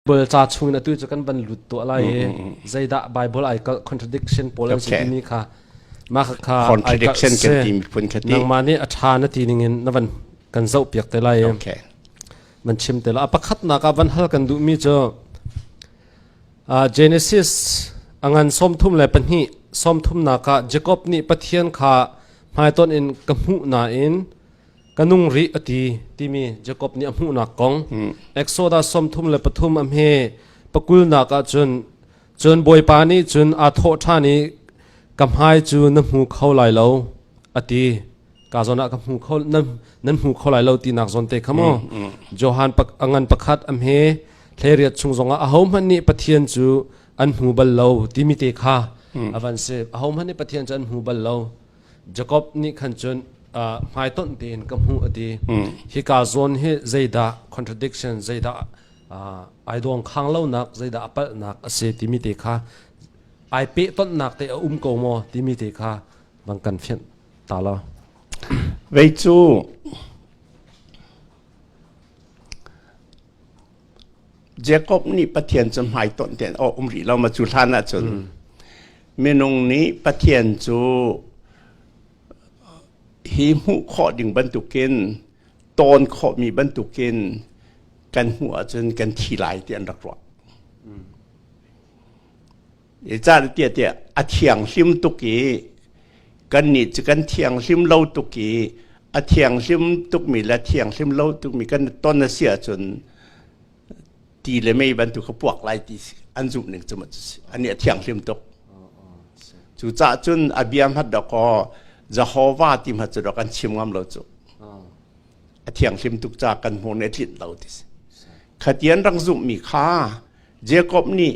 Bibal ca chung in atu cu kan van lut tuah lai i zeidah Bible ai kalh contradiction pawl an si timi kha mah kha kha ai kalh si nangmah nih a ṭha na ti ning in na van kan zohpiak te lai i man chim te la a pakhatnak ah van hal kan duhmi cu Genesis angan sawmthum le pahnih sawmthumnak ah Jacob nih Pathian kha hmaiton in ka hmuh nain ka nung rih a ti timi Jacob nih a hmuhnak kong Exodus sawmthum le pathum a hme pakulnak ah cun cun bawipa nih cun aa thawh ṭhan i ka hmai cu na hmu kho lai lo a ti ka zawn ah ka hmu kho nan, nan hmu kho lai lo tinak zawn te kha maw Johan a ngan pakhat a hme thleriat chung zongah ahohmanh nih Pathian cu an hmu bal lo timi te kha a van si ahohmanh nih Pathian cu an hmu bal lo Jacob nih khan cun uh, hmaitonh tein ka hmuh a ti hi ka zawn hi zeidah contradiction zeidah uh, ai dawng khang lonak zeidah a palhnak a si timi te kha ai pe tonnak te a um ko maw timi te kha bang kan fian ta lo vei cu Jacob nih Pathian cu hmaitonh tein aw um rih lo ma cu hlan ah cun minung nih Pathian cu hi hmuh khawh ding bantukin tawn khawhmi bantukin kan hmuh ahcun kan thi lai ti an rak ruah. Catiah tiah a thianghlim tuk i kannih cu kan thianghlim lo tuk i a thianghlim tukmi le thianghlim lo tukmi kan ton a si ahcun ti le mei bantuk ka puak lai ti an zumh ning cu anih a thianghlim tuk. Cucaah cun a bia hmat dok aw Jehovah ti hmat cu dok an chim ngam lo cu. A thianghlim tuk ca kan hmur nih a tlinh lo ti si. Khatian rak zumhmi kha Jacob nih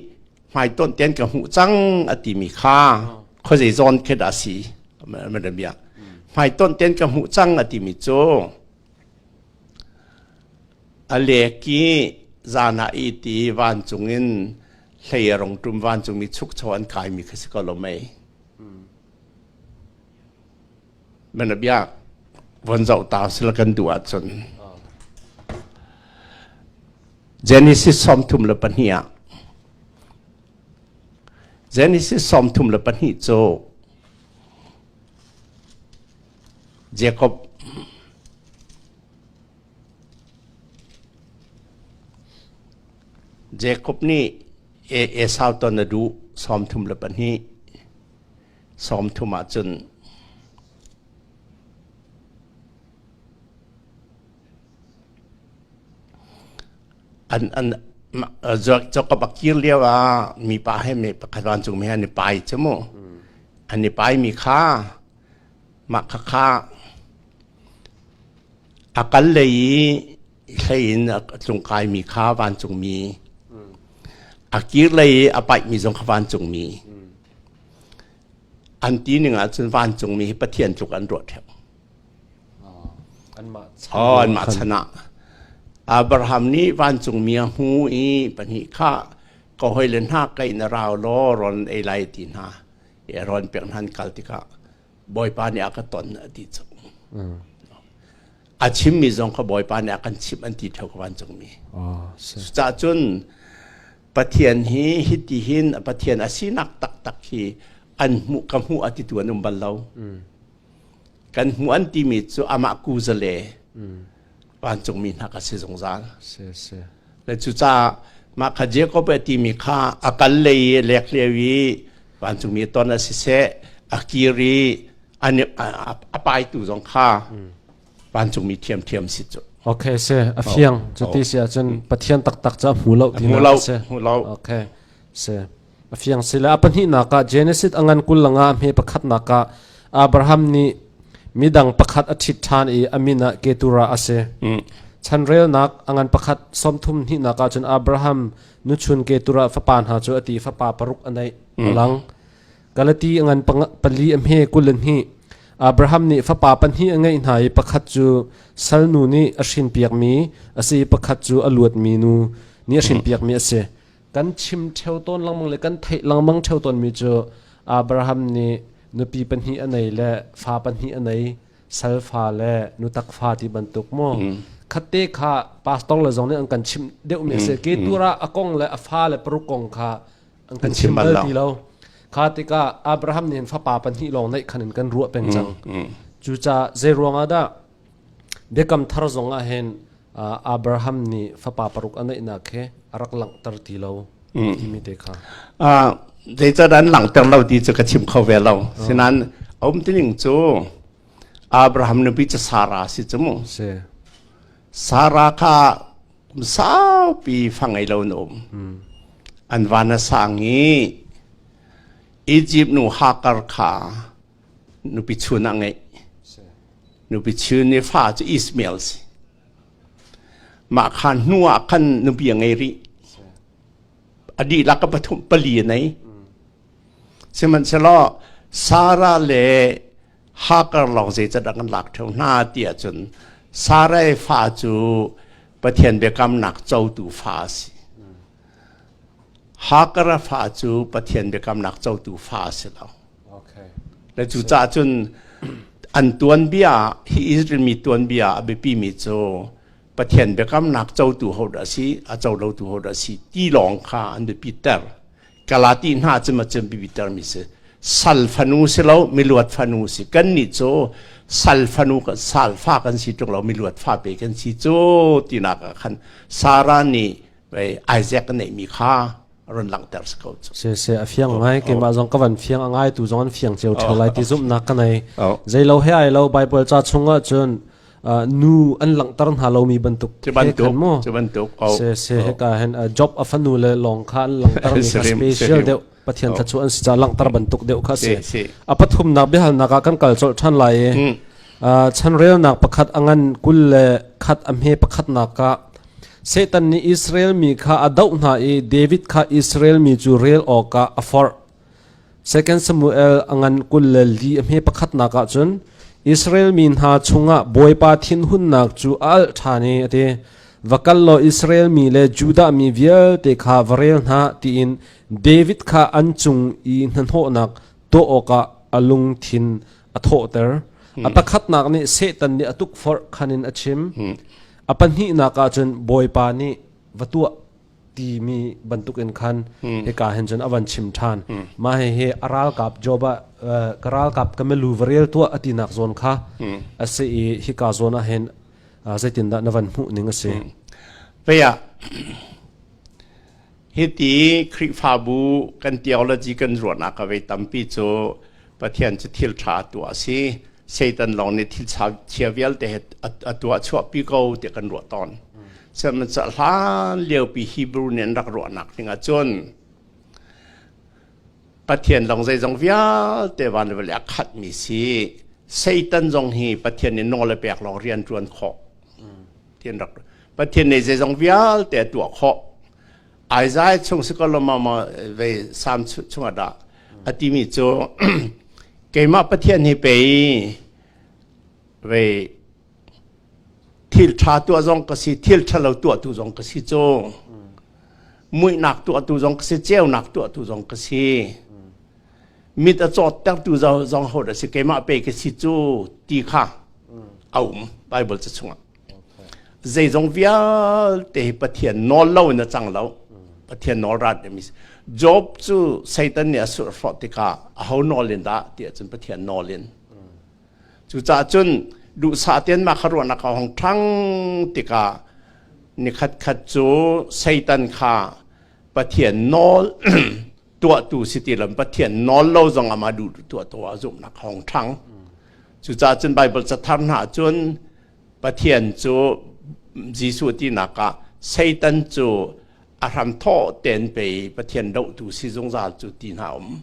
hmaitonh tein ka hmuh cang a timi kha khuazei zawn khi dah si madam biak hmaitonh tein ka hmuh cang a timi cu a leki zana i ti vancung in hleirong tum vancung mi chukcho an kai mi kha si ko lo mei Mana biak von zoh ta sila kan duh ahcun Genesis sawmthum le pahnih ah Genesis sawmthum le pahnih cu Jacob Jacob nih Esau ton a duh sawmthum le pahnih Sawmthum ahcun an an cawkap a kir lio ah mipa he me pakhat vancung me an i pai cu mu an i pai mi kha mah khakha a kal lei i hlei in a tlungkai mi kha vancung mi a kir lei i a paih mi zong kha vancung mi an ti ning ahcun vancungmi hi Pathian tluk an ruah ṭheu. Oh, anmah chan ah. Abraham nih vancungmi a hmu i pahnih kha ka hoi le hna kaih na rau law ron ei lai ti hna i ron pek hnan kal tikah Bawipa nih a ka ton a ti cu. A chimmi zong kha Bawipa nih a kan chimh an ti ṭheu ka vancungmi. Oh, cucah cun Pathian hi hitihin a Pathian a sinak taktak hi an hmuh ka hmuh a titu an um bal lo. Kan hmuh an timi cu amah kuzale vancungmi hna ka si zungzal. Si, si. Le cucaah mah kha Jacob a timi kha a kal lei i lekhleu i vancungmi ton a si seh a kir i a, a, a, a paitu zong kha vancungmi thiamthiam si cu okay se a fiang cu ti si ahcun pathian taktak cu a hmu lo ti na si hmu lo okay se a fiang si le a pahnihnak ah Genesis a ngan kul langa hme pakhatnak ah Abraham nih midang pakhat a ṭhit ṭhan i a min ah Ketura a si chanrelnak a ngan pakhat sawmthum hnihnak ah cun Abraham nuchun Ketura fapa hna cu a ti fapa paruk a neih lang Galati a ngan pali a hme kul in hnih. Abraham nih fapa pahnih a ngeih hna i pakhat cu salnu nih a hrin piakmi a si i pakhat cu a luatmi nu nih a hrin piakmi a si. Kan chim theo tawn lengmang le kan theih lengmang theo tawnmi cu Abraham nih nupi pahnih a nei le fa pahnih a nei salfa le nutak fa ti bantuk mu mm. khatte kha pastor le zong nih an kan chim deuhmi a si mm, ke mm. tura a kong le a fa le paruk kong kha an kan chim bal ti lo kha tikah Abraham nih fapa pahnih lawng neih khan in kan ruah peng cang cucaah zei ruangah dah biakam thar zongah hin Abraham nih fapa paruk a neihnak he a rak langhter ti lo timi te kha zeicah an langhter lo ti cu ka chim kho ve lo sinan a um tining cu Abraham nupi cu Sarah si cu mu Sarah kha saupi fa ngei lo in um. An van a sang i Egypt nu Hagar kha nupi chun ah ngeih. Nupi chun ni fa cu Ismail si. Mah khan hnu ah khan nupi a ngei rih. A dih lak ka pathum pali a nei. Sihmanhsehlaw Sarah le Hagar lawng zeicat a kan lak ṭheo hna ti ahcun Sarai fa cu Pathian biakamnak cotu fa a si. Hagar a fa cu Pathian biakamnak cotu fa a si lo. Okay. Na cucaah cun an tuanbia ah, hi Israel mi tuanbia ah a biapimi cu Pathian biakamnak cotu ho dah a si, a colotu ho dah a si ti lawng kha an biapi ter. Galati hna cim a cim bibitermi si sal fanu si lo miluat fanu si kan nih cu sal fanu kan sal fa kan si tung lo miluat fa pe kan si cu tinak ah khan Sarah nih Isaac ka neihmi kha run langhter si ko cu se se a fiang ngai keimah zong ka van fiang a ngai tu zong an fiang cio theo lai ti zumhnak ka nei zei lo he ai lo bible cha chung ah cun nu an langhter hna lomi bantuk bantuk maw cu bantuk se se heka hen job a fanu le long kha an langhter mi kha special deuh pathian oh. thlachu an si ca langhter bantuk deuh kha si a pathumnak biahalnak ah kan kal col than lai i hmm. chanrelnak pakhat angan kul le khat amhe pakhat nak ka satan nih israel mi kha a doh hna i david kha israel mi cu rel awka a forh 2 Samuel a ngan kul le li a hme pakhatnak ah cun Israel mi hna chungah Bawipa thinhunnak cu a alh ṭhan i a ti va kal law Israel mi le Judah mi vialte kha va rel hna tiin David kha an cung i hnahnawhnak tuah awkah a lungthin a thawhter. A pakhatnak nih Satan nih a tukforh khan in a chim. A pahnihnak ah cun Bawipa nih va tuah timi bantukin khan mm. hika hen cun avan chim than mm. ma he he aralkap job a karalkap kamelu varel tua atinak zon kha ase i hika zon a hen zeitin da navan mu ning ase veya hiti krifabu kan theology kan ruana ka ve tampi chu pathian chu thil tha tu asi Satan lawng nih thilchia vialte he a tuah chuahpi ko tiah kan ruah tawn. Sihmanhsah hlan liopi Hebrew nih an rak ruahnak ding ahcun Pathian lawng zeizong vialte van le vale a khatmi si Satan zong hi Pathian nih nawl a pek lawng rian ṭuan khawh. Pathian rak Pathian nih zeizong vialte a tuah khawh Isaiah chung si ko lomama ve sam chunga da atimi cu keimah Pathian hi pe ve thil tha tuah zong ka si thil tha lo tuah tu zong ka si cu muihnak tuah tu zong ka si ceunak tuah tu zong ka si mit a cawt ter tu zong ho da si keimah pe ka si cu ti kha a um Bible ca chungah zeizong vialte hi pathian nawl lo in a cang lo pathian nawl rat a mi job cu satan nih a surh hrawh tikah a ho nawl in dah ti ahcun pathian nawl in cucaah cun duhsah tian ma kha ruahnak a hong ṭhang tikah nikhat khat cu satan kha pathian nawl tuahtu si ti lo pathian nawl lo zong amah duh tuah tuah zumhnak hong ṭhang cucaah cun bible cathar hna cun Pathian cu Jesuh tinak ah Satan cu a hramthawh tein pei Pathian dohtu si zungzal cu ti hna um.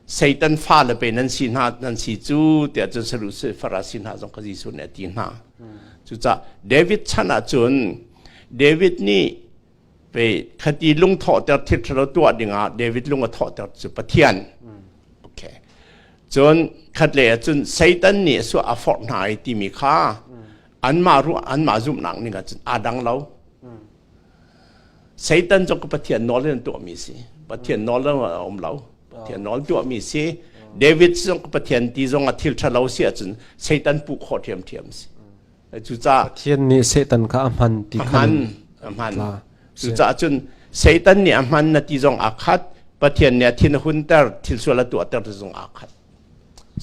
Satan fale pe nan si hna nan si cu tiah cun Sadusi Farasi hna zong kha Jesuh nih a ti hna. Cucah David chan ah cun David nih Pe khati lung thawhter thil ṭhalo tuah dingah David lung a thawhter cu Pathian. Okay. Cun khat lei ah cun Satan nih a suah a forh hna ai timi kha anmah ruah anmah zumhnak ning ah cun aa dang lo. Satan cu ka Pathian nawl in tuahmi si. Pathian nawl in a um lo. Pathian nawl tuahmi si. David cu ka Pathian ti zong a thil ṭhalo si ahcun Satan puh khawh ṭhiamṭhiam si. Pathian nih Satan kha a hman ti khan a hman cucaah cun Satan nih a hman na ti zong aa khat Pathian nih a thin a hunter thil sual a tuahter ti zong aa khat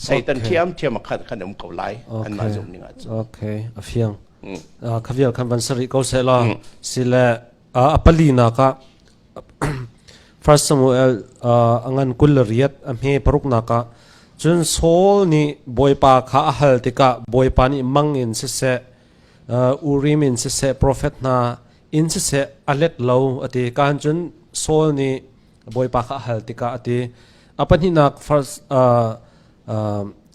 Satan thiamthiam a khat kan um ko lai anmah zumh ning ahcun okay a fiang khavial kan van sari ko seh law sile a palinak ah First Samuel a ngan kul riat a hme paruknak ah cun Saul nih bawipa kha a hal tikah bawipa nih mang in siseh Urim in siseh profet hna in siseh a let lo a ti kaan cun Saul nih bawipa kha a hal tikah a ti a pahnihnak first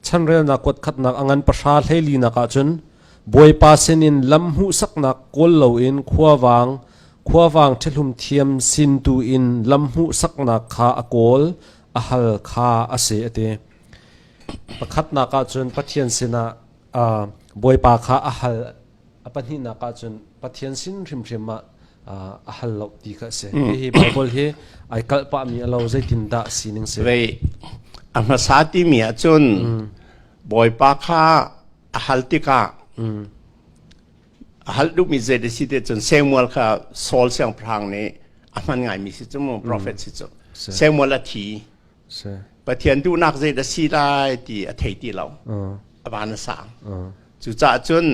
chanrelnak kuatkhatnak a ngan pahra hleilinak ahcun Bawipa sinin lam hmuhsaknak kawl loin khuavang khuavang ṭhehlum thiam sin tu in lam hmuhsaknak kha a kawl a hal kha a si a ti pakhatnak ahcun Pathian sinah Bawipa kha a hal a pahnihnak ah cun Pathian sin hrimhrim ah a hal lo ti kha a si. Mm. Hihi Bible hi ai kalh pahmi a lo zeitindah sining si? a hmasa timi ah cun mm. Bawipa kha a hal tikah mm. a hal duhmi zei da si te cun Samuel kha Saul siangpahrang nih a hman ngaimi si cu mu prophet si cu Samuel a thi Pathian duhnak zei dah si lai ti a thei ti lo. A van a sang. Cucaah cun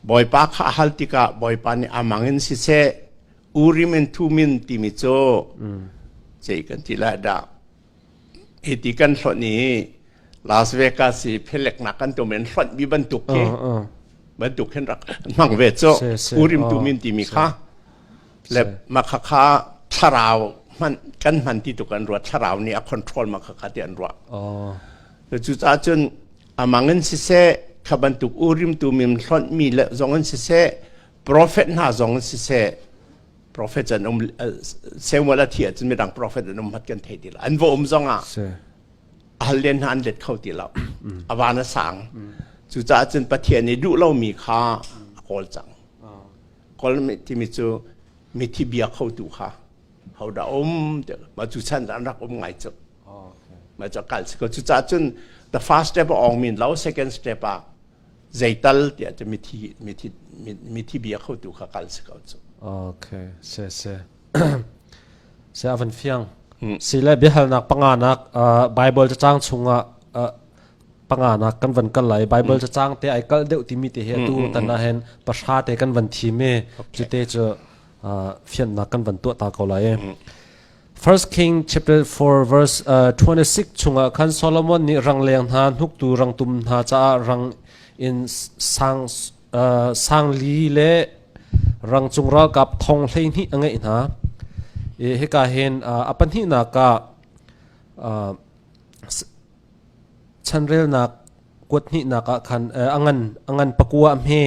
Bawipa kha a hal tikah Bawipa nih a mangin siseh Urim in Thumin timi cu cei kan ti lai dah. Hi ti kan hlonh i Las Vegas i pheleknak kan tum in hlonh mi bantuk hi bantuk hin rak hmang ve cu Urim Thumin timi kha le makha kha thlarau hman kan hman ti tuk an ruat thlarau nih a control makha kha ti an ruah cucaah cun amang in siseh kha bantuk urim tu mim hlonh mi le zong in siseh prophet hna zong in siseh prophet an um Samuel a thi ahcun midang prophet an um hat kan thei ti lo an va um zong ah halen hna an let kho ti lo a van a sang cucaah cun pathian i duh lo mi kha a kawl cang Colmate timi cu mithi bia khotu kha hodah um mah cu chan an rak um ngai cu mah cu kal si ko cucaah cun the first step awng min lo second step ah zeital tiah cu mithi mithi mithi bia khotu kha kal si ko cu okay se se se avan fiang si le biahalnak panga nak bible cacang chungah panganak kan van kal lai Bible mm. cacang te ai kal deuh timi te he atu mm, mm, tan ah hen pahra te kan van thi me cu te cu fiannak kan van tuah ta ko lai e 1 King chapter 4 verse uh, 26 chunga khan Solomon ni rang leng hna hnuk tu rang tum hna cha rang in sang uh, sang li le rang chung ral kap thong hlei ni angai hna e heka hen uh, apan hi na ka uh, chanrelnak kuat hnihnak ah khan a ngan a ngan pakua a hme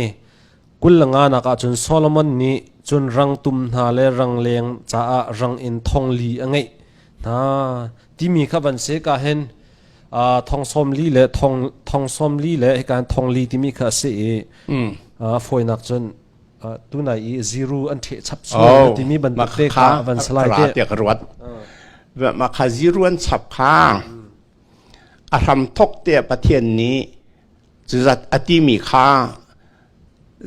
kul le nganak ah cun Solomon nih cun rang tum hna le rang leng caah rang in thongli a ngeih hna timi kha van se ka hen thong som li le thong thong som li le hikan thong li timi kha a si i fawinak cun tunai i ziru an ṭheh chap sual timi bantuk kha van salai te ka ruat mah kha ziru an chap kha a hramthok te pathian nih cuzat a timi kha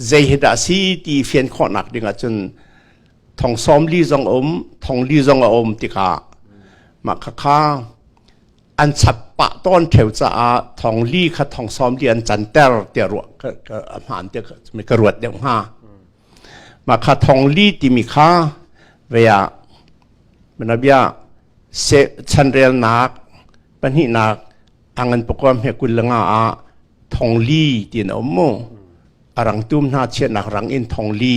zei hi dah si ti fian khawhnak ding ahcun thong som li zong um thong li zong a um tikah mah kha kha an chak pah tawn theo caah thong li kha thong som di an can ter tia ruah ka ka hmaan tia mi ka ruat deuh hnga ma kha thong li timi kha vea menabia se chanrelnak pahnihnak angan pokom he kullanga a thong li tin om mu arang tum hna chiatnak rang in thong li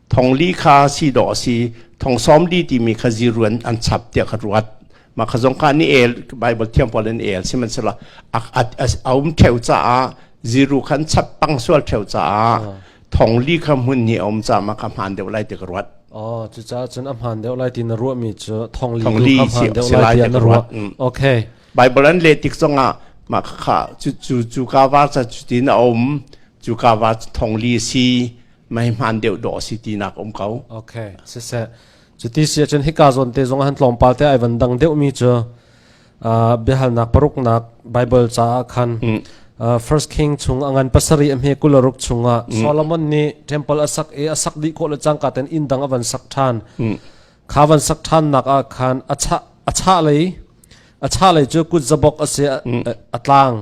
thong li kha si dawh a si thong sawm li timi kha ziruan an chap tiah ka ruat mah kha zong ka ni el bible thiam pawl in el sihmanhsehlaw a a um theu caah ziru khan chap pang sual theu caah thong li kha hmun ni a um caah mah kha hmaan deuh lai ti ka ruat Oh, cucaah cun a hmaan deuh lai ti na ruahmi cu thong li kha hmaan deuh lai tiah na ruat. Okay. Bible an le tik zongah mah kha cu cu ka war ca cu ti na um cu ka war thong li si meihman deuh dawh si ti nak um ko okay siseh cuti si chen hika zon te zong han tlawmpal te ai van dang deuh mi chu uh, biahal nak paruk nak bible cha khan uh, first king chung angan pasari am he kularuk chunga solomon ni temple asak e asak di ko le changka ten in dang avan sak than khavan sak than nak a khan acha acha lei acha lei chu kut zabok ase atlang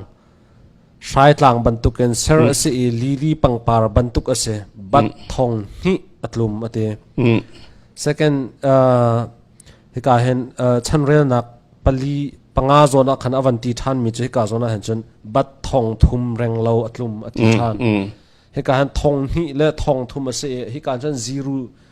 Hraitlang bantukin ser a si i lili pangpar bantuk a si. Bat thong hnih a tlum a ti. Second, uh, hika hin uh, chanrelnak pali panga zawn ah khan avan ti ṭhan mi cu hika zawn ah hin cun bat thong thum reng lo a tlum a ti ṭhan. Hika hin thong hnih le thong thum a si i hika cun ziru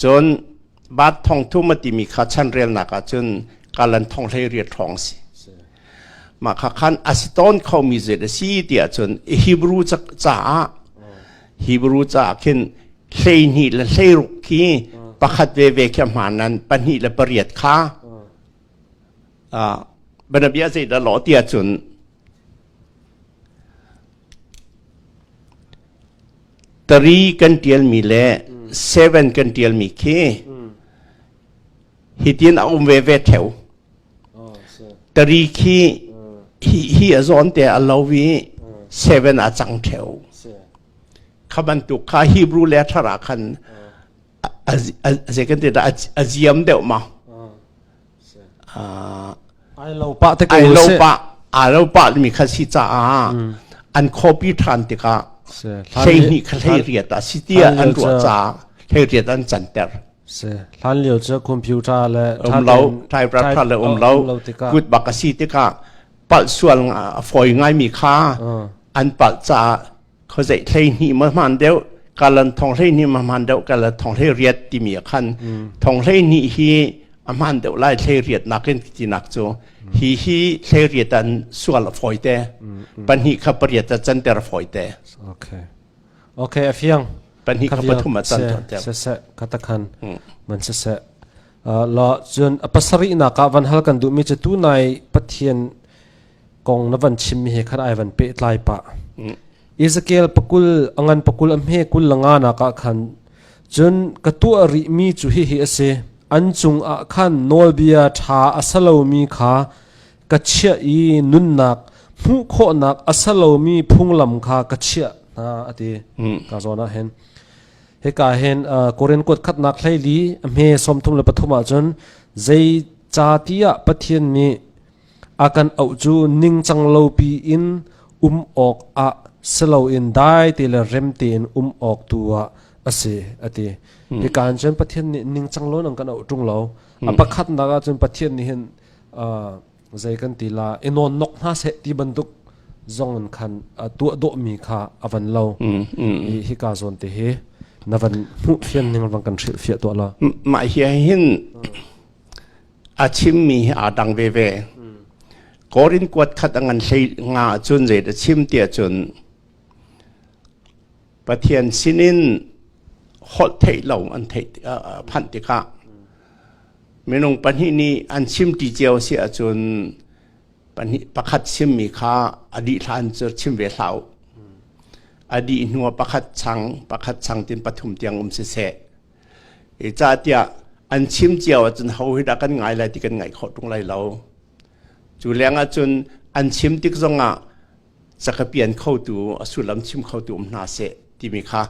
Cun baat thongthum a timi kha chanrelnak ah cun kalan thong hlei riat hrawng a si. Mah kha khan a si tawn khomi zeet a si tiah cun Hebrew caah Hebrew caah khin hleihnih le hleiruk khi pakhat veve khi hmaan nan pahnih le pariat kha banabia zeidah law tiah cun Tari kan ṭialmi le seven kan ṭialmi khi hitin a um veve theo. Tari khi hi hi a zawn te a lo i seven a cang theo. Kha bantuk kha Hebrew le thara khan a zei kan ti dah a ziam deuh ma. Ai lo pah te ko ai lo pah ai lo pah mi kha si caah an khawapi ṭhan tikah hlei hnih kha hlei riat a si tiah an ruah caah hlei riat an canter hlan lio cu computer le um lo typewriter le um lo kut bak a si tikah palh sual a fawi ngai mi kha an palh caah khuazeih hleihnih ma hmaan deuh kalan thong hleihnih ma hmaan deuh kalan thong hlei timi ah khan mm. thong hleihnih hi a hmaan deuh lai hlei nakin tinak cu hi hi hlei an sual foi te pahnih kha pariat a canter foi te okay okay afiang pahnih kha pathum a canter te se se katakhan man se se la chun apasari na ka van hal kan du mi che tu nai pathian kong na van chimmi he khan ai van pehtlai pah Ezekiel pakul angan pakul a hme kul langa nak ah khan cun ka tuah rih mi cu hi hi asi an cung ah khan nawlbia tha a salomi kha ka chiah i nunnak hmuh khawhnak a salomi phunglam kha ka chiah hna ati ka zawn ah hen heka hen koren kuat khatnak hlei li a hme som thum le pathum ah cun zei cha tiah pathian nih A kan auh cu ningcang lopi in um awk ah si loin dai te le rem tein um awk tu ah a si a ti. Hika in cun Pathian nih ningcang lo nan kan auh ṭung lo. A pakhatnak ah cun Pathian nih hin uh, zei kan ti la i nawn nok hna seh ti bantuk zong in khan uh, tuah dawhmi kha a van lo. I hika zawn te hi na van hmuh fian ning rang kan hrilh fiah tuah la. Mah hi hin a chimmi hi aa dang veve. Korin kuat khat a ngan hlei nga ahcun zeidah chim ti ahcun Pathian sinin holh theih lo an theih phanh tikah minung pahnih nih an chim ti cio si ahcun pahnih pakhat chimmi kha a dih hlan cu chim ve hlau a dih hnuah pakhat chang pakhat chang tin pathum tiang um siseh Cahtiah an chim cio ahcun ho hi dah kan ngai lai ti kan ngaih khawh ṭung lai lo. Cu leng ahcun an chim tik zongah cakapian khotu a sullam chim khotu um hna seh timi kha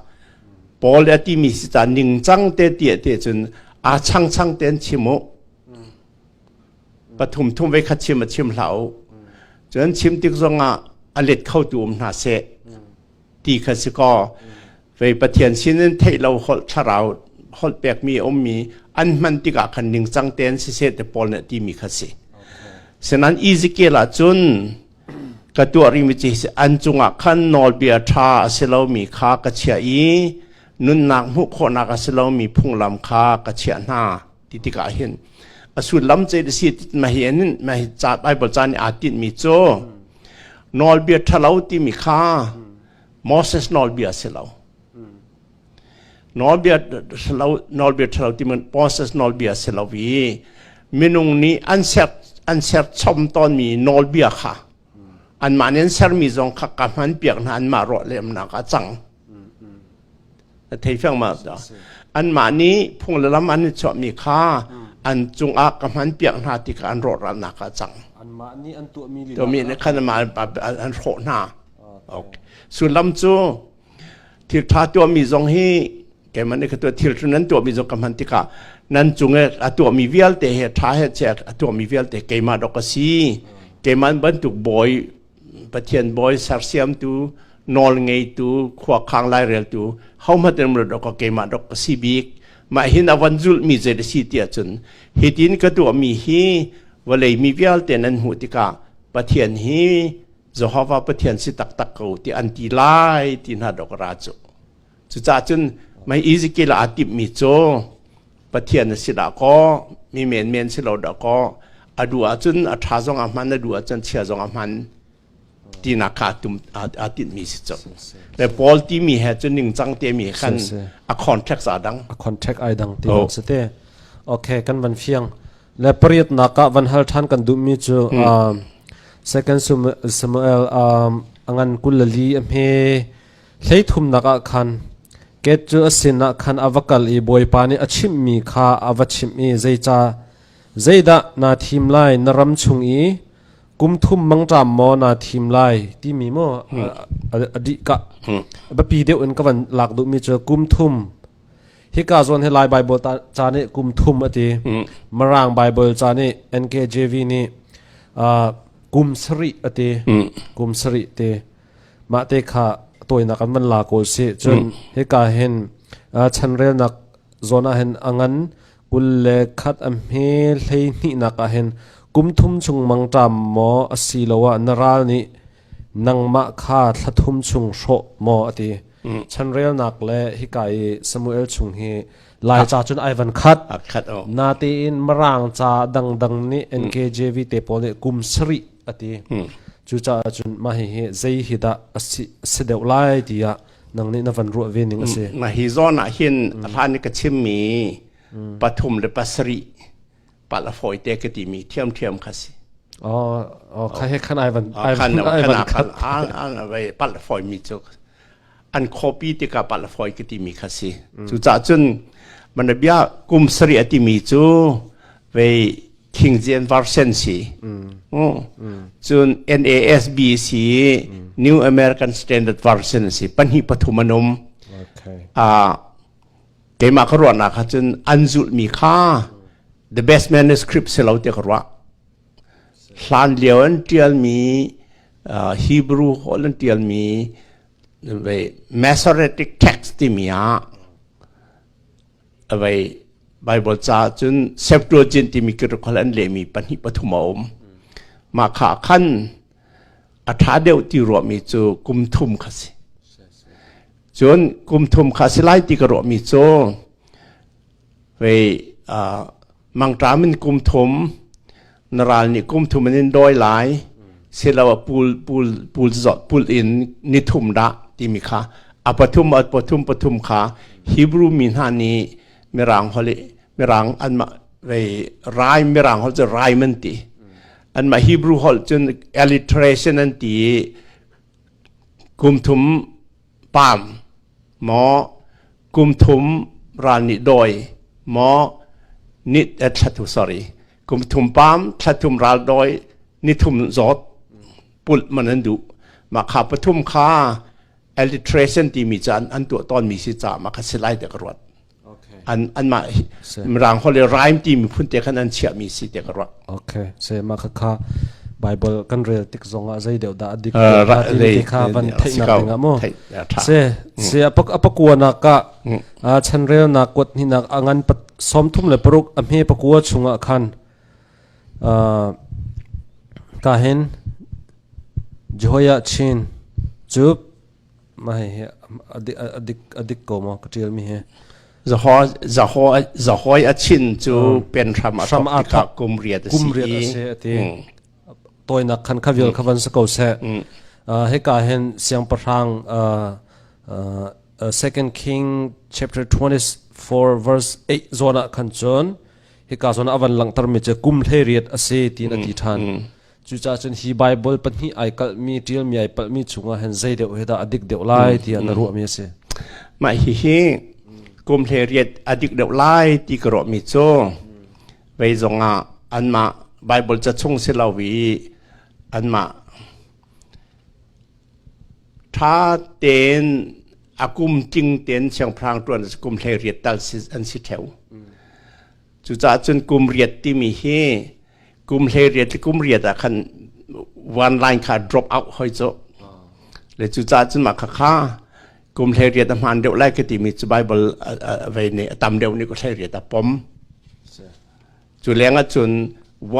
Paul a timi si ta ningcang te ti te cun a changchang tein chim u. Pathum thum vei khat chim a chim hlah u. Cun chim tik zongah a let khotu um hna seh ti kha si kaw vei pathian sin in theih lo holh thlarau holh pekmi a ummi an hman tikah khan ningcang tein siseh te Paul nih timi kha si senan Ezekiel ah cun ka tuah rimi ci si an cungah khan nawlbia ṭha a si lomi kha ka chiah i nunnak hmuh khawhnak a si lomi phunglam kha ka chiah hna ti tikah hin a sullam cei si mahi in mahi Bible caan i aa tinhmi cu nawlbia ṭhalo timi kha Moses nawlbia si lo nawlbia ṭhalo nawlbia ṭhalo timi Moses nawlbia si lo i minung nih an ser an ser chom tawnmi nawlbia kha anmah nih an sermi zong kha ka hman piak hna anmah rawh lemnak a cang a thei fiang ma anmah nih phung le lam an i chuahmi kha an cungah ka hman piak hna ti kha an rawhralnak ah cang anmah nih an tuahmi tuahmi nih khan an hrawh hna sullam cu thil ṭha tuahmi zong hi keimah nih ka tuah thil cu nan tuahmi zong ka hman tikah nan cung i a tuahmi vialte he ṭha he che a tuahmi vialte keimah dok a si keimah bantuk bawi Pathian bawi sersiamtu nawlngeitu khuakhang laireltu homat in rat awk keimah dok a si bik mah hin avan zulh mi zei da si ti ahcun hitin ka tuah mi hi vawlei mi vialte nan hmuh tikah Pathian hi Jehovah Pathian si taktak ko ti an ti lai ti hna dok ra cu Cucaah cun mei Ezekiel aa timhmi cu Pathian a si dah kaw, mi menmen si lo dah kaw, a duh ahcun a ṭha zong ah hman, a duh ahcun chia zong ah hman tinak kha aa tinhmi si cu. Me Paul timi he cun ningcang temi he khan a contracts aa dang. A contract ai dang ti oh. si te. Okay, kan van fiang. Le pariat nak ah van hal ṭhan kan duhmi cu um, Second Samuel um, angan kulali a hme Hleithumnak ah khan Gad cu a sinah khan a va kal i Bawipa nih a chimhmi kha a va chimh i zeica zeidah naa thim lai na ram chung i kum thum mangṭam maw naa thim lai timi maw a dih ka a biapi deuh in ka van lak duhmi cu kum thum hika zawn hi Lai Baibal ca nih kum thum a ti Mirang Baibal ca nih NKJV nih kum sarih a ti kum sarih te mahte kha tawinak in van la ko sih cun hika hin chanrelnak zawn ah hin a ngan kul le khat a hme hlei hnihnak ah hin kum thum chung mangṭam maw asiloah na ral nih nangmah kha thla thum chung hrawh maw a ti chanrelnak le hika i Samuel chung hi lai ca cun ai van khat na tein marang ca dangdang nih NKJV te pawl nih kum sarih a ti cucaah cun mah hihi zei hi dah a si deuh lai tiah nang nih na van ruah ve ning a si mah hi zawn ah hin a hlan ka chimmi pathum le pasarih pala fawi te ka ti mi thiam thiam kha si Oh, oh, kha he khan ai van ai van ai van khat an ai pal foi mi chu an khuapi tikah palafawi ka timi kha si cucah cun mana bia kum sarih a timi cu vei king jian varsen si cun nasbc new american standard version si pahnih pathum anum keimah ka ruahnak kha cun an zulhmi kha the best manuscript si lo ti ka ruah Hlanlio an ṭialmi Hebrew holh an ṭialmi Masoretic text timi ah Baibal caah cun Septuagint timi Greek holh an lehmi pahnih pathum a um. Mah kha khan a ṭha deuh ti ruahmi cu kum thum kha si. Cun kum thum kha a si lai ti ka ruahmi cu Vei uh, mangṭam in kum thum na ral nih kum thum in in dawi lai silo a pul pul pul zot pul in ni thum dah timi kha a pathum a pathum pathum kha Hebrew mi hna nih mirang holi mirang an ma vei rai mirang hol cu rai man ti an ma Hebrew hol cun alliteration an ti kum thum Paam maw kum thum ral nih dawi maw nit et thla thu sorry kum thum paam thla thum ral dawi ni thum zawt pulh man an duh mah kha pathum kha alliteration timi ca an tuah tawnmi si caah mah kha si lai tiah ka ruat. an anmah mirang holh le rhyme timi phun te khan an chiahmi si te ka ruah okay se ma kha kha bible kan rel tik zong ah zei deuh dah adik ti kha van theih na ding mo se se apak apakua na ka chanrel na kwat ni na angan pat som thum le paruk amhe pakua chunga khan kahin joya chin chup Mah hihi a dik ko maw ka ṭialmi hi. Za hoi a chin cu pen hram a thok kum riat a si. Kum riat a si a ti. Toinak khan kha vial kha van sa ko seh. Hika hin siangpahrang Second King chapter 24 verse 8 zawn ah khan cun hika zawn ah van langhtermi cu kum hlei riat a si ti na ti ṭhan. Cucaah cun hi Baibal pahnih ai kalhmi ṭialmi ai palhmi chungah hin zei deuh he dah a dik deuh lai tiah na ruahmi a si. Mah hihi kum hle riat a dik deuh lai ti ka ruahmi cu vei zongah anmah Baibal ca chung si lo i anmah ṭha tein a kum tling tein siangpahrang ṭuan kum hlei riat tal si an si ṭheu. Cucaah cun kum riat timi hi kum hlei riat le kum riat ah khan one line kha drop out hoi cu. Le cucaah cun mah khakha kum hlei riat a hmaan deuh lai ka timi cu Bible a vei nih a tam deuh nih ku hlei riat a pom. Cu leng ah cun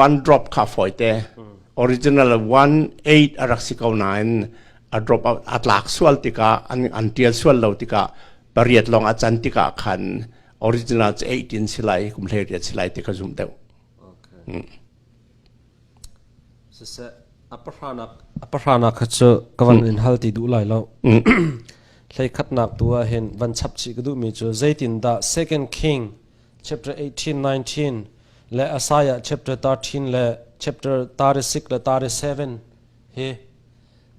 one drop kha fawite original one eight a rak si ko nain a drop out a tlak sual tikah an an tial sual lo tikah pariat long a can tikah khan original cu 18 si lai kum hleiriat si lai ti kha zum deuh okay. mm. siseh apahranak apahranak kha cu kavan mm. in hal ti duh lai lo mm. hlei khatnak tu ah hin van chap chi ka duh mi cu zeitin da second king chapter 18 19 le asaya chapter 13 le chapter 36 le 37 Hi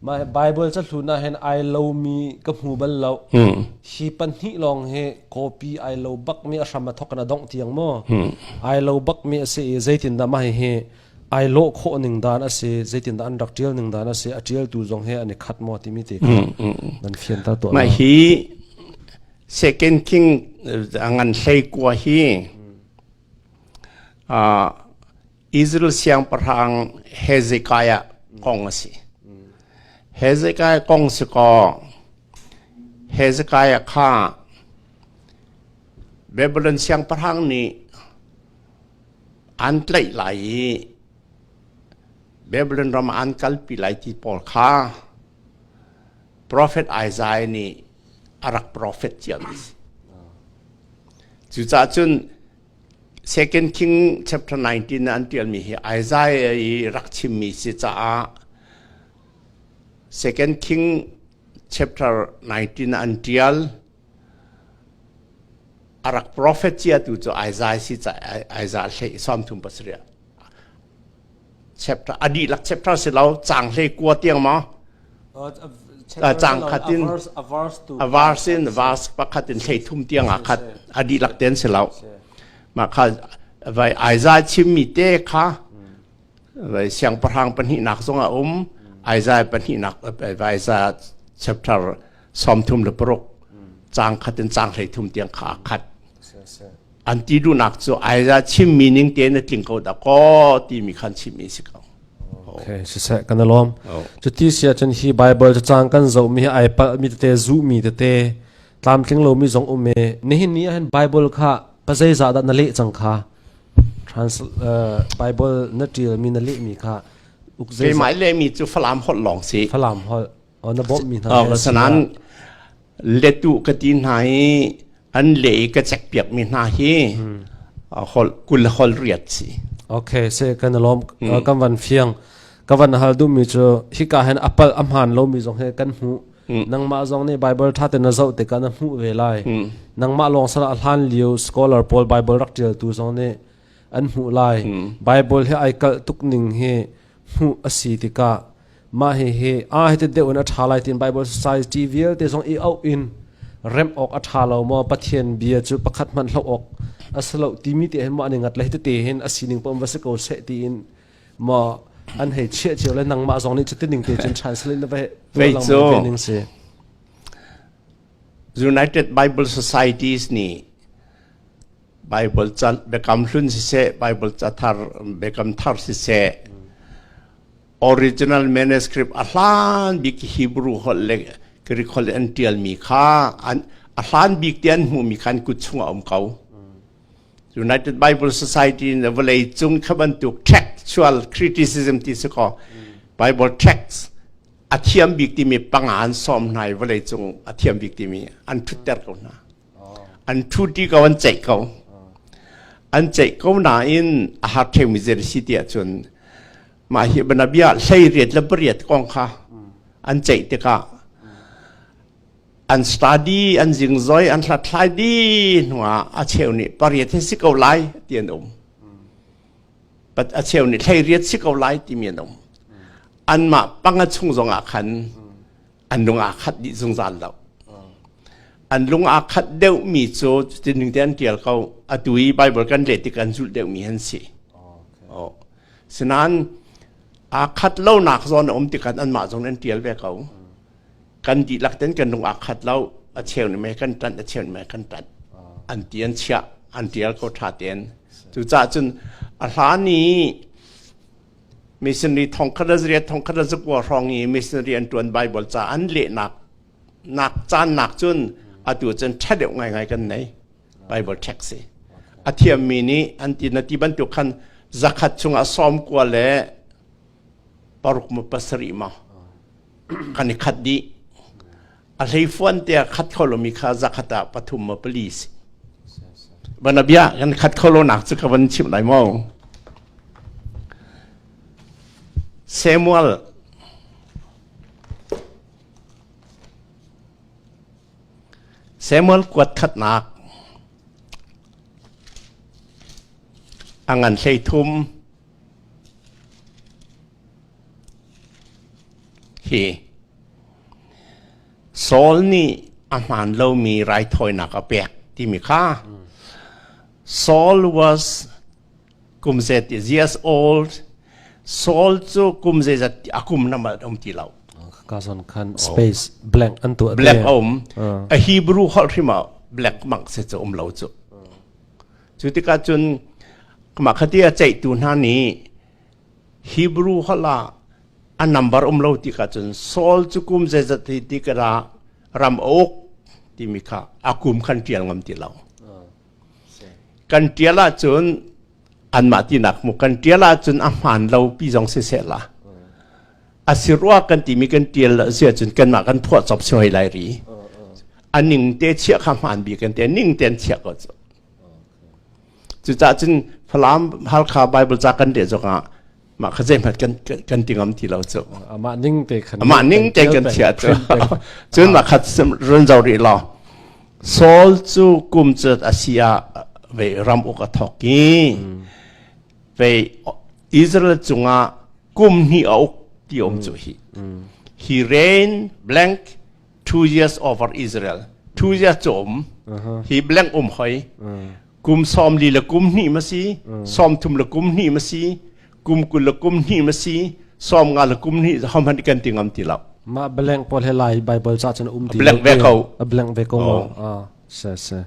mah Bible cahlun ah hin ai lomi ka hmu bal lo. Hmm. Hi pahnih lawng hi copy ai lo bakmi a hram a thawk in a dongh tiang maw? Hmm. Ai lo bakmi a si i zeitindah mah hi ai lawh khawh ning dan a si zeitindah an rak tial ning dan a si a tialtu zong he an i khat maw timi te kha nan fiantar to ma hi second king ngan hlei kua hi a Israel siangpahrang Hezekiah kong a si. Hezekiah kong si kaw Hezekiah kha Babylon siangpahrang nih an tlaih lai i Babylon ram ah an kalpi lai ti pawl kha profet Isaiah nih a rak profet cio a si. Cucaah cun Second King chapter 19 ah an ṭialmi hi Isaiah i rak chimmi si caah Second King chapter 19 ah an ṭial. A rak profet ciatu cu Isaiah si caah Isaiah hlei sawm thum pasarih. chapter a dihlak chapter si lo cang hle kua tiang ma cang khatin avars in vas pakhat in thlei thum tiang a khat a dihlak ten si lo ma kha vai aizai chimmi te kha vai siang pahrang pahnih nak zong a um aizai pahnih nak vai za chapter som thum le paruk cang khatin cang hlei thum tiang kha a khat an ti duhnak cu Isaiah chimmi ning te na tling ko da kaw timi khan chimmi si ko. Okay, siseh kan alom. Cu ti sia cun hi Bible cu cang kan zo mi ai pal mi tete zu mi tete tlamtling lo mi zong um e nihin ni ahhin Bible kha pazei za da na leh cang kha trans uh, Bible na tial mi na leh mi kha uk zei Kei mai le mi cu Falam hot long si. falam hol Sanan letu ka ti hna i an le i ka cek piak mi hna hi hol kul hol riat si. Okay, se kan lom kan van fiang ka van hal du mi chu hika hen apal amhan lo mi zong he kan mu nangma zong ne bible tha te na zo te ka na mu ve lai nangma long sala hlan liu scholar paul bible rak tial tu zong ne an mu lai bible he ai kal tuk ning hi hmuh a si tikah mah hihi aa hi deuh in a ṭha lai tiin Baibal Society vialte zong i auh in remh awk a ṭha lo maw Pathian bia cu pakhat hmanh hloh awk a si lo timi te hin maw an i ngat le te hin a sining pom va si ko seh tiin maw an hei chiah cio le nangmah zong nih cutining te cun translate na va tualang ve ning si United Bible Societies nih Baibal ca biakam hlun siseh, Baibal cathar biakam thar siseh, original manuscript a hlan bik Hebrew holh le Greek holh an ṭialmi kha an a hlan bik ti an hmuhmi kha an kut chungah a um ko. United Bible Society in the vawlei cung kha bantuk textual criticism ti si kaw Bible texts a thiam bik timi panga an sawm hna i vawlei cung a thiam bik timi an ṭhutter ko hna. an ṭhuṭi ko an ceih ko an ceih ko nain a har ṭheumi zei a si tiah cun mah hi banabia hleiriat le pariat kong kha an ceih tikah an study an zingzoi an hlathlai dih hnuah a cheu nih pariat hi si ko lai ti an um but a cheu nih hleiriat si ko lai timi an um anmah panga chung zongah khan an lung aa khat dih zungzal lo an lung aa khat deuh mi cu cutin ning te an tial ko atu i bible kan le tik an zulh deuh mi an si oh. sinain aa khat lonak zawn a um tikhan anmah zong an tial ve ko kan dihlak ten kan lung aa khat lo a cheu ne me kan tat a cheu ne me kan tat an ti an chia an tial ko tha ten cu cah cun a hlan i Missionary thongkhat le zariat thongkhat le zakua hrawng i missionary an ṭuan Baibal ca an lehnak nak caannak cun atu cun ṭha deuh ngaingai kan nei. Bible text si. A thiammi nih an ti na ti bantuk khan zakhat chungah sawm kua le paruk ma pasarih ma kan i khat dih. A hleifuan te ah khat kho lomi kha zakhat ah pathum maw pali si. Bana bia kan khat kho lonak cu ka van chim lai maw? Samuel Samuel kuat khatnak angan hlei thum Hi Saul nih a hmaan lomi raithawinak a pek timi kha Saul was kum zeet is years old. Saul cu kum zeizat a kum na mal um ti lo. Kazon khan space blank an tu black um a Hebrew holh hrima black mak se chu um lo chu. Cu tikah cun mah khati a ceihtu hna nih Hebrew holh ah a nambar um lo ti ka cun Saul cu kum zeizat hi ti ka ra ram a uk timi kha a kum khan ṭial ngam ti lo. Kan ṭial ahcun anmah tinak mu kan ṭial ahcun a hmaan lo pi zong siseh la a si rua kan timi kan tial lo si ahcun kanmah kan phuah cop si hoi lai ri a ning te chiah kha hmaan bi kan te ning ten chiah ko cu cucah cun Falam Halkha Bible ca kan de zong ah mah kha zeihmat kan kan ti ngam ti lo cu amah ning te khan amah ning te kan chiah cu cun mah khat run zo ri lo Saul cu kum cu a si ah ve ram uk a thok i ve Israel cungah kum hnih a uk ti a um cu hi he reign blank two years over Israel two years cu um hi blank um hoi kum sawm li la kum hnih ma si sawm thum la kum hnih ma si kum kul la kum hnih ma si sawm nga la kum hnih hom han kan ti ngam ti lo ma blank paul he lai bible cha cun um ti blank ve ko a blank ve ko a se se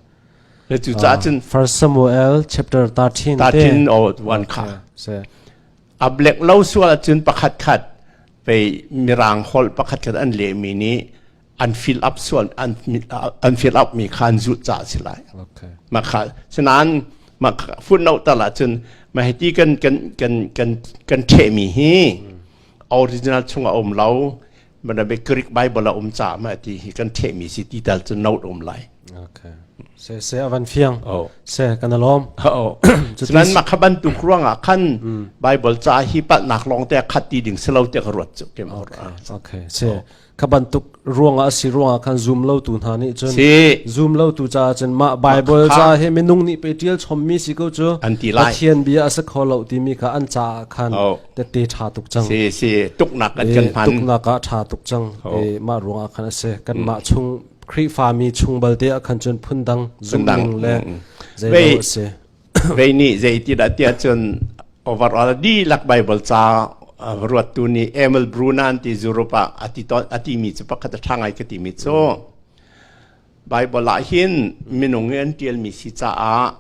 le tu cha cun 1 Samuel chapter 13 13 o 1 kha se A blek lo sual ahcun pakhat khat pei mirang holh pakhat khat an lehmi nih an fill up sual an an fill up mi kha an zulh ca a si lai. Okay. Ma kha sinain ma footnote tal ahcun ma hi ti kan kan kan kan kan ṭhehmi hi original chung a um lo Manabe Greek Bible a um caah ma ti hi kan thehmi si ti tal cu note um lai. Okay. Se se avan fiang. Oh. Se kan alom. Oh. Senan makhaban tu ruangah khan Bible ca hi patnak long te khat ti ding selo te ka ruat chu kem. Okay. Se kabantuk ruangah si ruangah khan zoom lo tu hna nih cun zoom lo tu ca cun ma Bible ca he minung nih pe tial chommi si ko cu An ti lai. Pathian bia asa kho lo timi kha an ca khan tete ṭha tuk cang. Si si tuknak kan kan hman. tuknak ah ṭha tuk cang. E, mah ruangah khan a si. Kan mah chung Khrihfami chung balte ah khan cun phundang zungning le zeimaw a si. Vei nih zeitindah tiah cun overall dihlak Bible ca ruattu nih Emil Brunan ti zurup ah ati mi cu pakhat a ṭha ngai ka ti mi cu Baibal ah hin minung i an ṭialmi si caah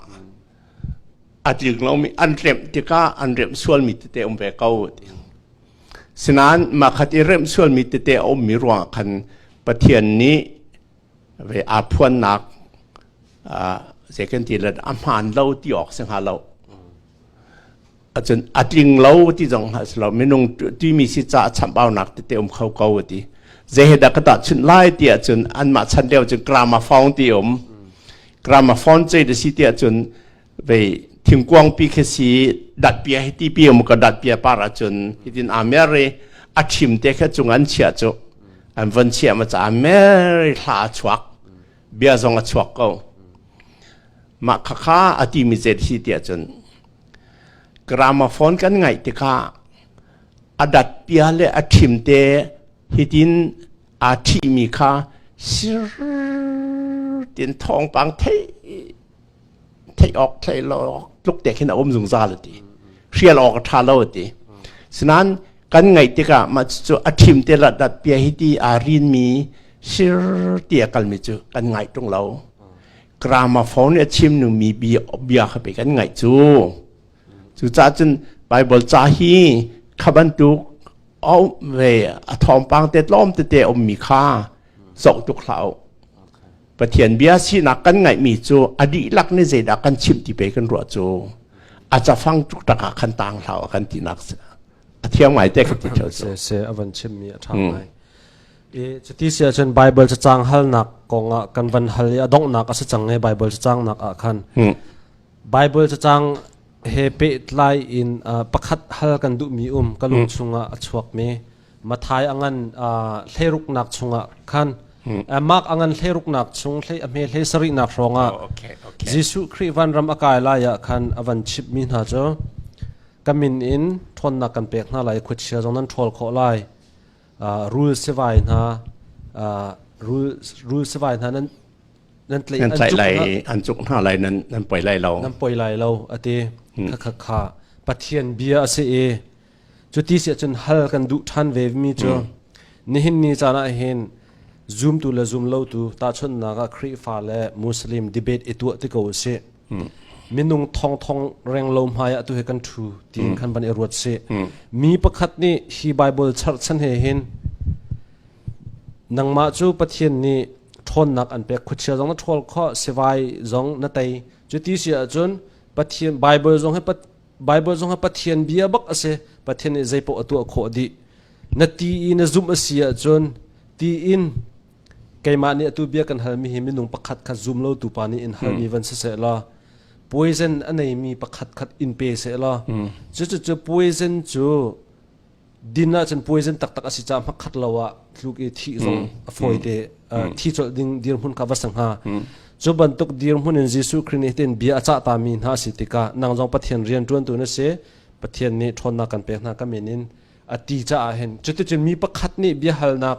a tling lomi an remh tikah an remh sualmi tete um ve ko. Sinain makhat i remh sualmi tete a ummi ruangah khan Pathian nih ve aa phuannak uh, zei kan ti a hmaan lo ti awk si hnga lo acun atling lo ti zong hlah si lo minung timi si ca chambaunak tete um kho ko ti zehedak ka ta chun lai ti acun anmah chan deo cun gramophone ti um gramophone ce de si ti acun vei thingkuang pi khe si dat pia hi ti pi um ka dat pia par acun hitin amere achim te khe cung an chia chu an von chia ma cha amere hla chuak bia zong a chuak ko ma khakha ati mi zet hi ti acun Gramophone kan ngaih tikah a dat pia le a ṭhim te hitin aa ṭhihmi kha sir tiin thawngpang theih theih awk theih lo tluk te khin a um zungzal a ti hrial awk a ṭha lo a ti sinain kan ngaih tikah mah cucu a ṭhim te la dat pia hiti aa rinmi sir tia kalmi cu kan ngaih ṭung lo Gramophone nih a chimnumi bia kha pei kan ngaih cu. Cucaah cun Baibal ca hi kha bantuk a um ve a thawngpang te tlawm tete a ummi kha zoh tuk hlah u. Pathian bia sinak kan ngaihmi cu a dihlak nih zeidah kan chimh ti pei kan ruah cu a cafang tuk tak ah khan tang hlau a kan tinak a thiang ngai te ka ti theo cu. Se a van chimmi a ṭha ngai. Cuti si ahcun Baibal cacang halnak kongah kan van hal i a donghnak a si cang i Baibal cacangnak ah khan Baibal cacang he pehtlai in pakhat hal kan duhmi um ka lung chungah a chuakmi Mathai a ngan thleiruknak chungah khan Mark a ngan thleiruknak chung a hme hlei sarihnak hrawngah Jesuh Khrih vanram a kai lai ah khan a van chipmi hna cu ka min in ṭhawnnak kan pek hna lai i khuachia zong nan ṭhawl khawh lai rul sivai hna rul sivai hna nan nan tlai nan tlai lai an cuk hna lai nan nan poi lai lo nan poi lai lo ati kha kha kha pathian bia ase e cu ti se chun hal kan du than ve mi chu nihin ni chana hin zoom tu le zoom lo tu ta chon na ga khri fa le muslim debate etu ti ko se minung thongthong reng lo hmai ah tu he kan thu tiin kan van i ruat si mi pakhat nih hi bible charchan he hin nangmah cu pathian nih ṭhawnnak an pek khuachia zong na ṭhawl kho sivai zong na tei cu ti si ahcun pathian bible zong he bible zong ha pathian bia bak ase pathian nih zeipoh a tuah khawh dih na ti i na zumh a si ahcun ti in Keimah nih atu bia kan halmi hi minung pakhat khat zum lotu pa nih in halmi van si sehla poison a neimi pakhat khat in pe sehla cucucu poison cu din ahcun poison taktak a si caah hmakhat lo ah tluk i thi zong a fawite thi colh ding dirhmun kha va sa hnga cu bantuk dirhmun in Jesuh Khrih nih hin bia a cah tami hna a si tikah nang zong Pathian rian ṭuantu na si Pathian nih ṭhawnnak kan pek hna ka min in a ti caah hin cuticun mi pakhat nih biahalnak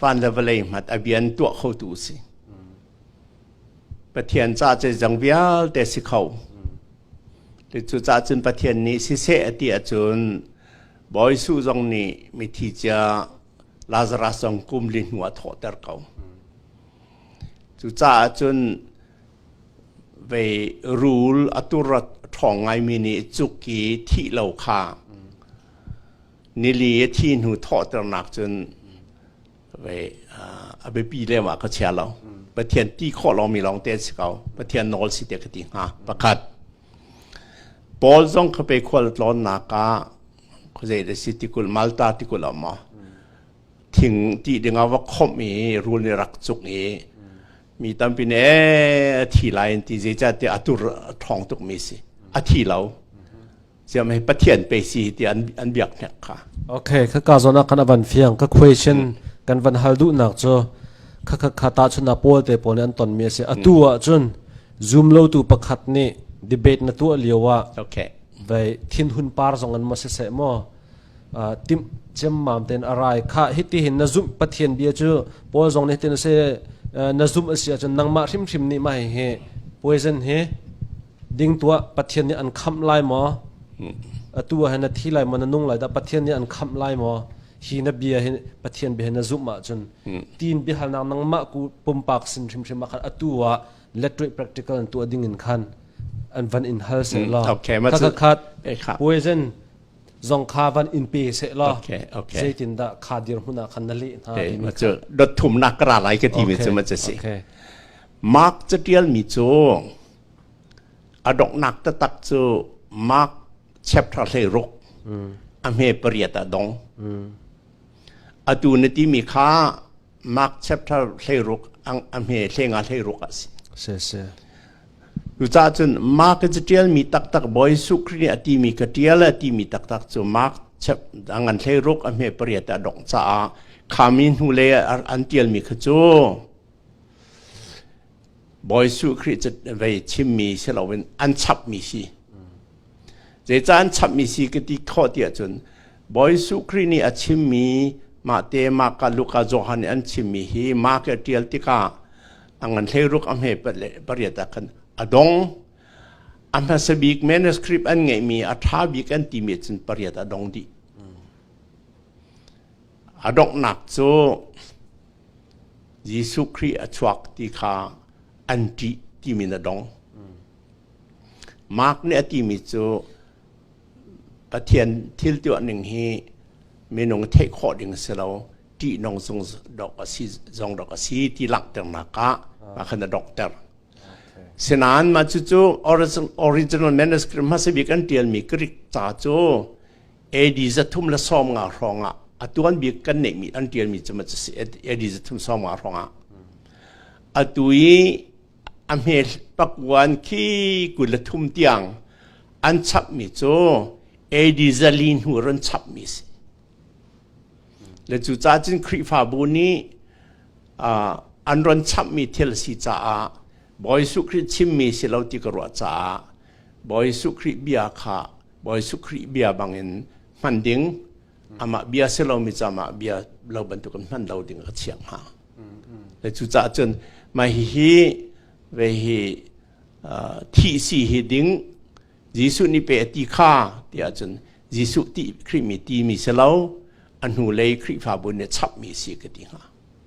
van le vawlei hngat a bian tuah khotu si pathian ca cu zang vialte si kho tu cu ca cun pathian nih siseh a ti ahcun Bawi Su zong nih mithi cia Lazarus zong kum li hnu a thawhter ko cucaah cun vei rul a turat ṭhawng ngaimi nih cuk i thih lo kha Nili thi hnu thawhternak cun vei, uh, a biapi lem ah ka chia lo. Pathian ti khawh lomi lawng te an si ko. Pathian nawl si te ka ti hnga. Pakhat, Paul zong ka pe khual tlawnnak ah khuazei da si tikul Malta tikul ah maw thing ti ding ah va khomh i rul ni rak cuk i mi tampi ne a thi lai in ti zeicah ti a tur a ṭhawng tuk mi si a thi lo siam hi pathian pe si ti an an biak hnek kha okay kha ka zona kan avan fiang ka question kan van hal du nak cho kha kha kha ta chuna paul te paul an ton mi ase atu a chun zoom lo tu pakhat ni debate na tu liawa okay vai thin hun par zong an ma se se mo tim chem mam ten arai kha hiti hin na zum pathian bia chu paul zong ne tin se na zum asia chun nangma hrim hrim ni ma hi poison hi Ding tuah Pathian nih an khamh lai maw? Atu ah hin na thi lai maw na nung lai dah Pathian nih an khamh lai maw? Hi na bia hi Pathian bia hi na zumh ahcun tiin biahalnak nangmah ku pumpak sin hrimhrim ah khan atu ah lettuih practical an tuah ding in khan an van in hal seh law Okay, ma cu- khat Eh, kha. poison zong kha van in pe seh law Okay, okay. zeitindah kha dirhmun ah khan na leh hna Eh, timi ma cu dot thumnak ka ra lai ka ti mi cu Okay, ma cu si. okay. Mark catial mi cu A donghnak taktak cu Mark chapter hleiruk a hme pariat ah dong. Atu na timi kha Mark chapter hleiruk a hme hlenga hleiruk a si. Si si. Cucah cun Mark in tialmi taktak Bawi Jesuh Khrih nih a timi ka tial a timi taktak cu Mark ngan hleiruk a hme pariat ah dong caah khami hnu le an tialmi kha cu Bawi Suh Khrih cu vei chimmi si loin an chapmi si. Zeicah an chapmi si ka ti khawh tiah cun Bawi Suh Khrih nih a chimmi mahte Maka, Luka, Johan nih an chimmi hi Mark a ṭial tikah a ngan hleiruk a hme pariat ah khan a dong. A hmasa bik manuscript an ngeihmi a ṭha bik an timi cun pariat a dong dih. A donghnak cu Jesuh Khrih a chuak ti kha an ṭih timi na dong. Mark nih a timi cu Pathian thil tuah ning hi minung theih khawh ding a si lo, ṭihnung zung dok a si zong dok a si ti langhternak ah mah kha na donghter. Sinain mah cucu original manuscript hmasa bik an ṭialmi Greek ca cu AD zathum le sawm nga hrawng ah a tuan bik kan neihmi an ṭialmi cu mac a si AD zathum sawm nga hrawng ah atu i a hme pakwan khi kul le thum tiang an chapmi cu AD zali hnu ron chapmi si le cu ca cun Khrihfabu nih an ron chamhmi thil a si caah Bawi Jesuh Khrih chimmi si lo ti ka ruah caah Bawi Jesuh Khrih bia kha Bawi Jesuh Khrih bia bangin hman ding amah bia si lomi cu amah bia lo bantukin hman lo ding ka chiah hnga. Le cucaah cun mai hihi ve hi uh, thi si hi ding Jesuh nih pe a ti kha tiah cun Jesuh ti Khrih mi ti mi si lo a hnu lei Khrihfabu nih chap mi si ka ti hnga.